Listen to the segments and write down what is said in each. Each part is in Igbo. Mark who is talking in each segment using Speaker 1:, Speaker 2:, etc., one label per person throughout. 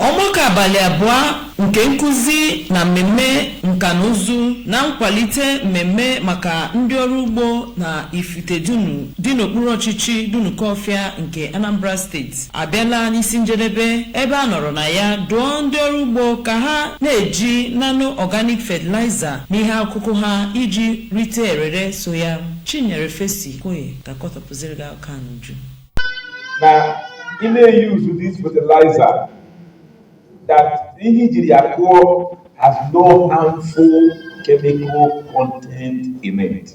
Speaker 1: Ọgbakọ abalị abụọ nke nkụzi na mmemme nka na ụzụ na nkwalite mmemme maka ndị ọrụ ugbo na Ifite Dunu dị n'okpuru ọchịchị Dunukọfịa nke Anambra steeti abịala n'isi njedebe ebe a nọrọ na ya dụọ ndị ọrụ ugbo ka ha na-eji nano organic fertilizer n'ihe akụkụ ha iji rite erere so ya. Chinyere Fesi Okoye ga-akọtọpụziri gị akụkọ a n'uju.
Speaker 2: na ị na-eyuzu this fertilizer that ihe i jiri ya kụọ has no harmful chemical content in it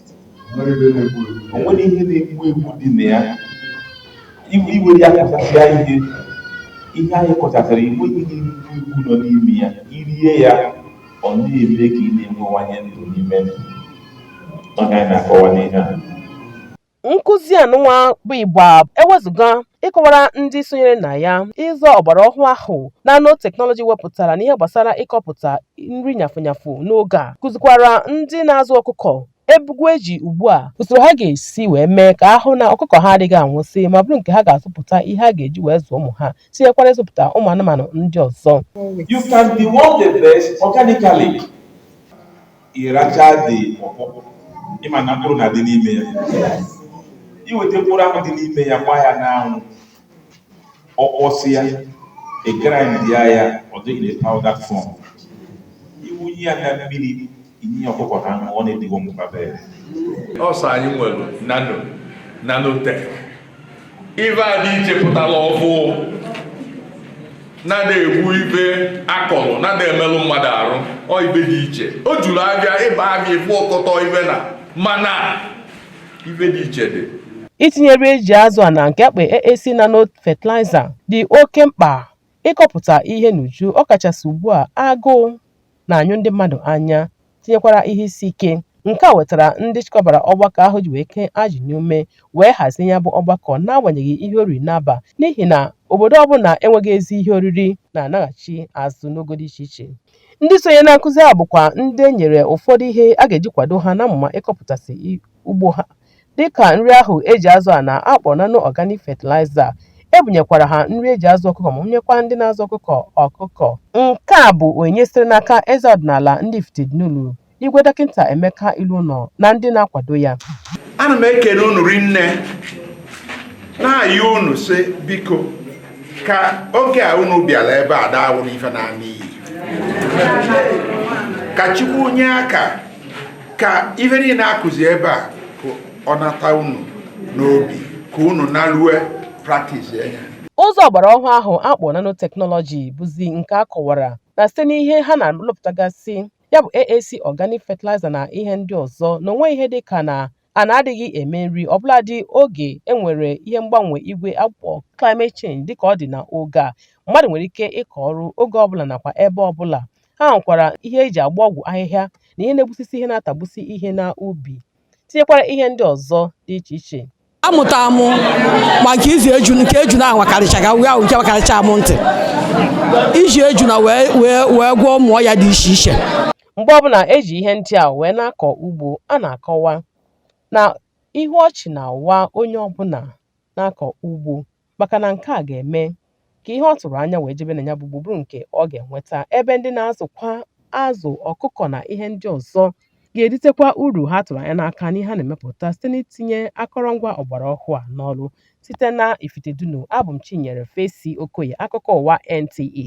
Speaker 2: onwero ihe na-egbu egbu dị na ya iwere ya kụchasịa ihe ihe anyị kọchasịra igbe ihe iwu nọ n'ime ya irie ya ọ na-eme ka ị na-enwewanye ndụ n'ime ndụ ọ gaghị na-akọwa n'ihe a
Speaker 3: nkụzi anụnwa bụ igba ewezuga ịkọwara ndị sonyere na ya ụzọ ọgbara ọhụụ ahụ nano teknọlọji wepụtara n'ihe gbasara ịkọpụta nri nyafụnyafụ n'oge a kụzikwara ndị na-azụ ọkụkọ ebugo eji ugbu a usoro ha ga-esi wee mee ka a hụ na ọkụkọ ha adịghị anwụsị ma bụrụ nke ha ga-azụpụta ihe ha ga-eji wee zụọ ụmụ ha tinyekwara ịzụpụta ụmụ anụmanụ ndị ọzọ You can
Speaker 2: deworm the birds organically. Ị rachaa the pọpọ, ị ma na mkpụrụ na-adị n'ime ya. Iweta mkpụrụ ahụ dị n'ime ya, gbaa ya n'anwụ, ọ kpọsịa, ị grindie ya, ọ dịrị na powder form. Iwunye ya na mmiri, Inye ya ọkụkọ ka ha ṅụọ ọ na-edeworm the birds.
Speaker 4: Also anyị nwere nano nanotech ife a dị iche pụtara ọfụụ na-ada egbu ife a kọrọ na-ada emelụ mmadụ arụ ọ ife dị iche o juru abịa ịba abịa ịfụ ọkọtọ ife na mana ife dị iche dị Itinye nri
Speaker 3: eji azụ ana nke a kpọ AAC Nano Fertilizer dị oke mkpa ịkọpụta ihe n'uju ọkachasị ugbu a agụụ na-anyụ ndị mmadụ anya tinyekwara ihe isi ike nke a wetara ndị chịkọbara ọgbakọ ahụ ji wee kee ajị n'ume wee hazie ya bụ ọgbakọ n'agbanyeghị ihe o riri n'aba n'ihi na obodo ọbụla enweghị ezi ihe oriri na-anaghachi azụ n'ogo dị iche iche ndị sonye na nkụzi a bụkwa ndị e nyere ụfọdụ ihe a ga-eji kwado ha n'amụma ịkọpụtasị ugbo ha dịka nri ahụ eji azụ ana a kpọ nano organic fertilizer ebunyekwara ha nri eji azụ ọkụkọ ma bunyekwa ndị na-azụ ọkụkọ ọkụkọ nke a bụ onyinye sitere n'aka eze ọdịnala ndị Ifite Dunu Igwe Dọkịta Emeka Ilouno na ndị na-akwado ya ana m
Speaker 4: ekele unu rinne na-ayọ unu sị biko ka oge a unu bịara ebe a daawụ n'ife na-ana iyi ka Chukwu nye aka ka ife niile akụzi ebe a ka ọ nata unu n'obi ka unu nalue practice ya ụzọ ọgbara ọhụụ
Speaker 3: ahụ akpọ nanotechnology bụzi nke a kọwara na site n'ihe ha na-alụpụtagasị ya bụ AAC organic fertilizer na ihe ndị ọzọ na o nweghị ihe dị ka na ana adịghị eme nri ọbụladị oge e nwere ihe mgbanwe igwe akpọ climate change dịka ọ dị na oge a mmadụ nwere ike ịkọ ọrụ oge ọbụla nakwa ebe ọbụla Ha hụkwara ihe e ji agba ọgwụ ahịhịa na ihe na-egbusisi ihe na-atagbusi ihe n'ubi, tinyekwara ihe ndị ọzọ dị iche iche. amụta
Speaker 5: mụ maka ịzụ eju nke ejuna awakarịchaga wee ahụ nke wakarịcha mụ ntị iji ejuna wee gwọọ ụmụ ọya dị iche iche Mgbe ọbụla
Speaker 3: e ji ihe ndị a wee na-akọ ugbo, a na-akọwa na ihu ọchị na-awa onye ọbụla na-akọ ugbo. maka na nke a ga-eme ka ihe ọ tụrụ anya wee jebe na ya bụ ugbo bụrụ nke ọ ga-enweta ebe ndị na-azụkwa azụ ọkụkọ na ihe ndị ọzọ ga-eritekwa uru ha tụrụ anya n'aka n'ihe ha na-emepụta site n'itinye akọrọngwa ọgbara ọhụụ a n'ọrụ site na Ifitedunu abụ m Chinyere Fesi Okoye akụkọ ụwa NTA